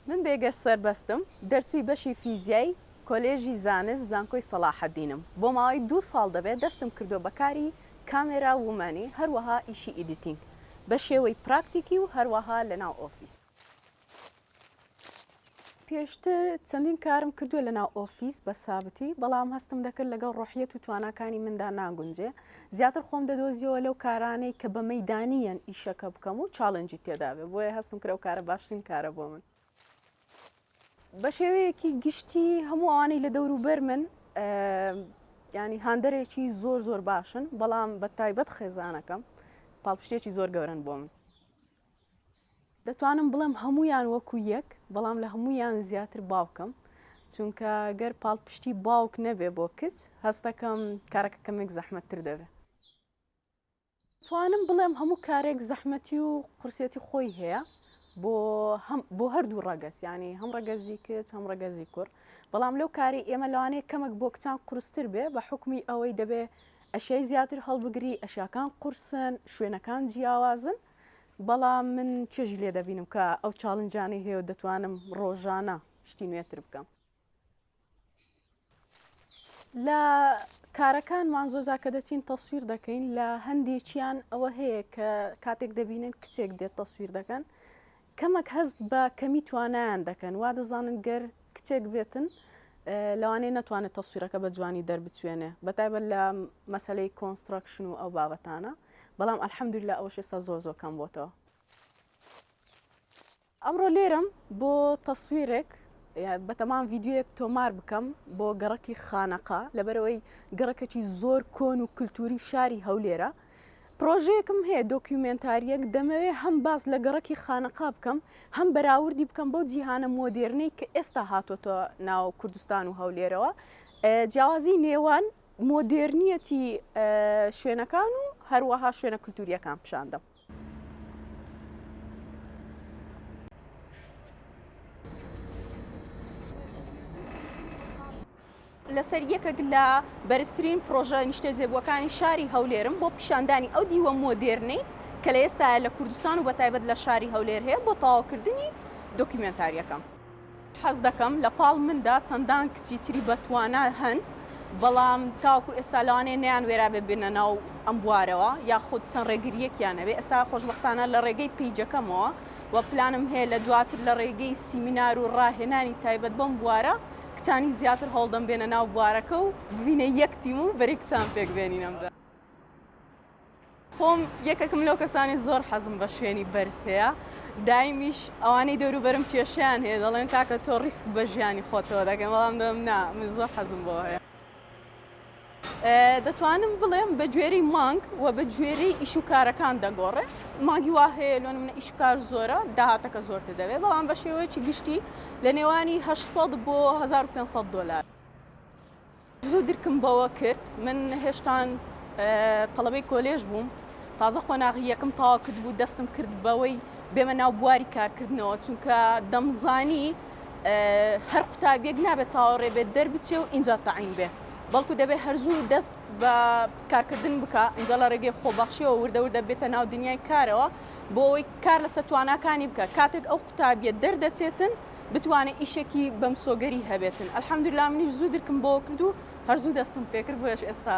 من بێگەرد سەربەستم، دەرچووی بەشی فیزیای کۆلێژی زانست زانکۆی سەڵاحەدینم، بۆ ماوەی دوو ساڵ دەبێت دەستم کردووە بە کاری کامێرا وومانی هەروەها ئیشی ئیدیتینگ بە شێوەی پراکتیکی و هەروەها لەناو ئۆفیس. پێشتر چەندین کارم کردووە لە ناو ئۆفیس بە سابتی بەڵام هەستم دەکرد لەگەڵ ڕۆحیەت و تواناکانی مندا ناگونجێ زیاتر خۆم دەدۆزیەوە لەو کارانەی کە بە مەدانیان ئیشەکە بکەم و چاڵنجی تێدابێ بۆیە هەستم کرەو کارە باشترین کارە بۆ من بە شێوەیەکی گشتی هەموو ئەوانەی لە دەور و بەر من ینی هاندەرێکی زۆر زۆر باشن بەڵام بە تایبەت خێزانەکەم پاڵپشتێکی زۆر گەورن بۆ من دەتوانم بڵێم هەموویان وەکو یەک بەڵام لە هەموویان زیاتر باوکم چونکە گەر پاڵپشتی باوک نەبێ بۆ کچ هەستەکەم کارەکە کەمێک زەحمەتتر دەبێ توانم بڵێم هەموو کارێک زەحمەتی و قورسەتی خۆی هەیە بۆ بۆ هەردوو ڕەگەز ینی هەم ڕەگەزی کچ هەم ڕەگەزی کوڕ بەڵام لەو کاری ئێمە لەوانەیە کەمەک بۆ کچان قورستر بێ بە حکومی ئەوەی دەبێ ئەشیای زیاتر هەڵبگری ئەشیاکان قورسن شوێنەکان جیاوازن بەڵام من چێژی لێ دەبینم کە ئەو چاڵنجانەی هەیە و دەتوانم ڕۆژانە شتی نوێتر بکەم لە کارەکانمان زۆزا کە دەچین تەسویر دەکەین لە هەندێکیان ئەوە هەیە کە کاتێک دەبینن کچێک دێت تەسویر دەکەن کەمەک هەست بە کەمی توانایان دەکەن، وا دەزانن گەر کچێک بێتن لەوانەیە نەتوانێت تەسویرەکە بە جوانی دەربچوێنێ بە تایبەت لە مەسەلەی کۆنستڕەکشن و ئەو بابەتانە، بەڵام الحمدللە ئەوەش ئێستا زۆر زۆر کەم بۆتەوە. ئەمڕۆ لێرەم بۆ تەسویرێک یان بەتەمان ڤیدیۆیەک تۆمار بکەم بۆ گەڕەکی خانەقا لەبەرئەوەی گەڕەکەکی زۆر کۆن و کلتوری شاری هەولێرە، پڕۆژەیەکم هەیە دۆکیومێنتارییەک، دەمەوێ هەم باس لە گەڕەکی خانەقا بکەم، هەم بەراوردی بکەم بەو جیهانە مۆدێرنەی کە ئێستا هاتۆتە ناو کوردستان و هەولێرەوە، جیاوازیی نێوان مۆدێرنیەتی شوێنەکان و هەروەها شوێنە کولتوورییەکان پیشان دەم. لەسەر یەکێک لە بەرزترین پڕۆژە نیشتەجێبووەکانی شاری هەولێرم بۆ پیشاندانی ئەو دیوە مۆدێرنەی کە لە ئێستایا لە کوردستان و بەتایبەت لە شاری هەولێر هەیە بۆ تەواوکردنی دۆکیومێنتارییەکەم. حەز دەکەم لە پاڵ مندا چەندان کچی تری بەتوانا هەن، بەڵام تاوەکو ئێستا لەوانەیە نەیانوێرابێ بێنە ناو ئەم بوارەوە یاخود چەند ڕێگرییەکیان هەبێ، ئێستا خۆشبەختانە لە ڕێگەی پەیجەکەمەوە و پلانم هەیە لە دواتر لە ڕێگەی سیمینار و ڕاهێنانی تایبەت بەم بوارە، کچانی زیاتر هەوڵدەم بێنە ناو بوارەکە و ببینە یەک تیم و بەری کچان پێک بێنینم بە خۆم یەکەکم لەو کەسانی زۆر حەزم بە شوێنی بەرسەیە دایمیش ئەوانەی دەوروبەرم کێشیان هەیە دەڵێن کاکە تۆ ڕیسک بە ژیانی خۆتەوە دەگەم بەڵام دەم نا من زۆر حەزم بۆ هەیە دەتوانم بڵێم بە گوێرەی مانگ و بە گوێرەی ئیش و کارەکان دەگۆڕێ مانگی وا هەیە لۆ منە ئیش و کار زۆرە داهاتەکە زۆرتر دەبێت بەڵام بە شێوەیەکی گشتی لە نێوانی 800 بۆ 1500 دلار زوو درکم بەوە کرد من هێشتان تەڵەبەی کۆلێژ بووم تازە قۆناغی یەکم تاوا کرد بوو دەستم کرد بەوەی بێمە ناو بواری کارکردنەوە چونکە دەمزانی هەر قوتابیەک نابێت چاوەڕێ بێت دەربچێ و ئینجا تەعین بێ بەڵکو دەبێت هەرزوو دەست بە کارکردن بکە ئینجا لە ڕێگەی خۆبەخشیەوە وردەوردە بێتە ناو دنیای کارەوە بۆ ئەوەی کار لە سەتواناکانی بکە کاتێک ئەو قوتابیە دەردەچێتن بتوانێت ئیشێکی بەمسۆگەری هەبێتن ئەلحەمدلا منیش زوو درکم بۆ کردو هەرزوو دەستم پێکرد بۆش ئێستا